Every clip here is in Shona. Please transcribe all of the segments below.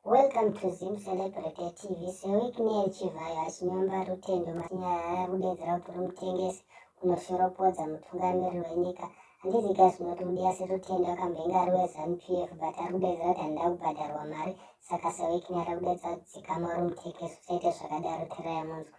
Welcome to Zim Celebrity TV. Sewiknel Chivhayo achinyomba rutendo manyaya kudedzera kuti rumutengesi unoshoropodza mutungamiri wenyika. Handizi ka zvinoti kudi asi rutendo akambenge ari weZanu PF but ari kudedzera kuti handida kubhadharwa mari saka sewiknel ari kudedzera kuti dzikama rumutengesi usaite zvakadaro tera yamunzwa.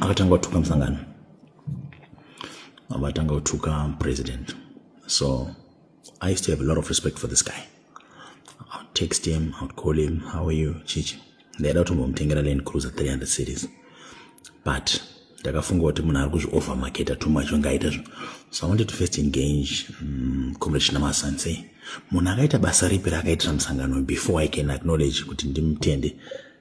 akatanga kutuka musangano abatanga kutuka president so i used to have a lot of respect for this guy I'll text him I'll call him how are you chichi ndaida kutombomutengera land cruiser 300 cities but ndakafunga kuti munhu ari kuzviover marketa too much onge aita zvinhu so i wanted to first engage um, comrade chinamasansei munhu akaita basa ripi raakaitira musangano before i can acknowledge kuti ndimutende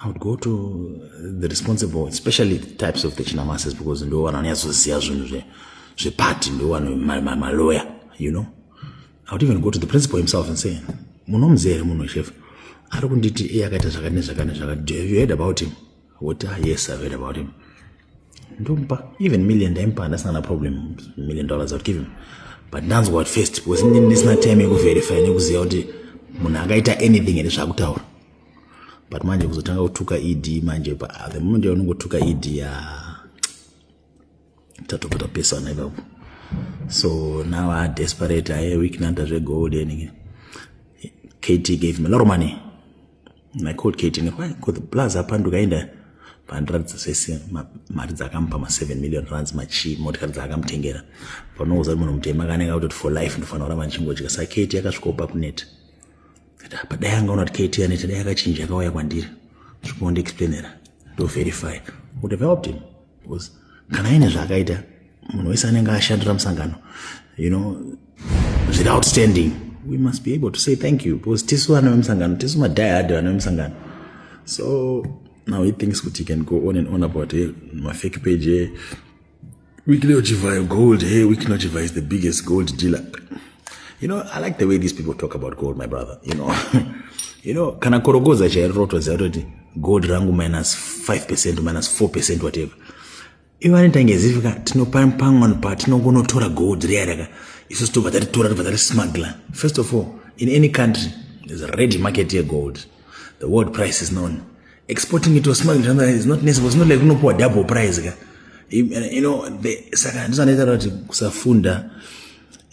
I would go to the responsible, especially the types of the chinamases because ndo vanhu vanonyatsoziva zvinhu zvepati ndo vanhu maloya you know i would even go to the principal himself and say munomzi here munhu chef ari kunditi iye akaita zvakati nezvakati nezvakati do have you heard about him woti ah yes i've heard about him ndomupa even million ndaimupa handasina na problem million dollars i would give him but ndanzwa at first because ndisina time yekuverify nekuziva kuti munhu akaita anything here zvaakutaura but manje kuzotanga kutuka ed manje pa ah, the moment yaunongotuka ed ya tatobva tapesana ipapo so now a desperate aye weeknanta zvegold enike kt gave him a lot of money and i called kt why because the plus apanduka enda pandiratidza zvese mari dzakamupa ma7 million runs machi motikari dzaakamutengera panouza munhu mutema kanenge kutoti for life ndofanira kuramba ndichingodya saketi yakasvikopa kuneta apa dai angaona kuti kt aneta dai akachinja akauya kwandiri zvikondiexplainera ndoverify would have helped him because kana aine zvaakaita munhu wese anenge ashandira musangano you know zviri outstanding we must be able to say thank you because tisu vana vemusangano tisu madiehard vana vemusangano so now he thinks kuti he can go on and on about eh, mafake page eh, Weekly Ochivayo Gold. Hey, Weekly Ochivayo is the biggest gold dealer. You know, I like the way these people talk about gold, my brother. You know, you know, kana korogoza chairo rotoziva toti gold rangu minus 5% minus 4% whatever. Ivo vanoita ngezivika tinopamwe patinongonotora gold riya raka isusu tobva tatitora tobva tati smuggler. First of all, in any country, there's a ready market here gold. The world price is known. exporting it or smuggling something like that is not necessary it's not like unopuwa double price ka you know the saka ndisanaita kuti kusafunda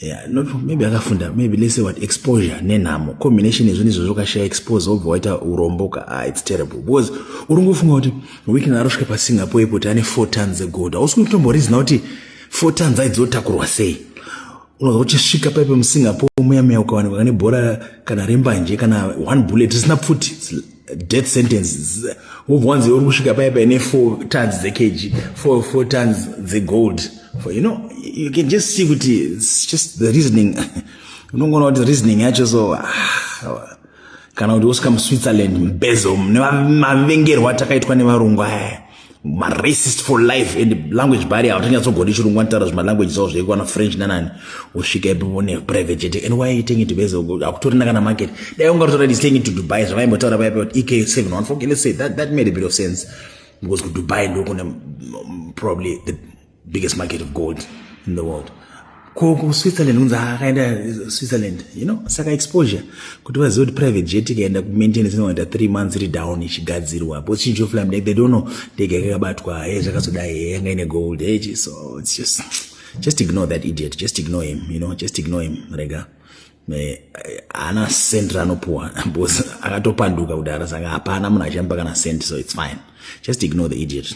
Yeah, not maybe akafunda maybe let's say what exposure nenhamo combination yezvinhu izvozvo ukashaya expose wobva waita urombo ka ah, it's terrible because uri ngofunga kuti weekend arosvika pasingapore ipo kuti ane four tons egold hausi kutomborizina kuti four tons aizotakurwa sei unonzwa uchisvika paipe musingapore muya muya ukawanikwa kane bhora kana rembanje kana one bullet risina pfuti death sentence wobva wanzi uri kusvika paya paine four tons dzekg four, four tons dzegold for you know you can just see kuti its just the reasoning unongoona kuti reasoning yacho so ah, kana kuti wosvika muswitzerland mbezo mavengerwa atakaitwa nevarungu aya maracist for life and language barrier hautanyatsogondi chirungu anotaura zvimalanguage zavo zvaiko ana french nanani usvika ipo ne private jet and why are you taking to base hakutorina kana market dai ungatotora this thing to dubai zvavaimbotaura vaya kuti ek 714 let's say that, that made a bit of sense because kudubai ndokune mm, probably the biggest market of gold in the world ko kuswitzerland kunzi akaenda uh, switzerland you know saka exposure kuti vazive kuti private jet ikaenda kumaintenance inoita three months iri down ichigadzirwa bo chinji oflam they don't know ndege yakakabatwa he eh, zvakazodai he eh, yanga ine gold he eh, so it's just just ignore that idiot just ignore him you know just ignore him rega haana cent raanopuwa bcause akatopanduka kudhara saka hapana munhu achamba kana cent so it's fine just ignore the idiot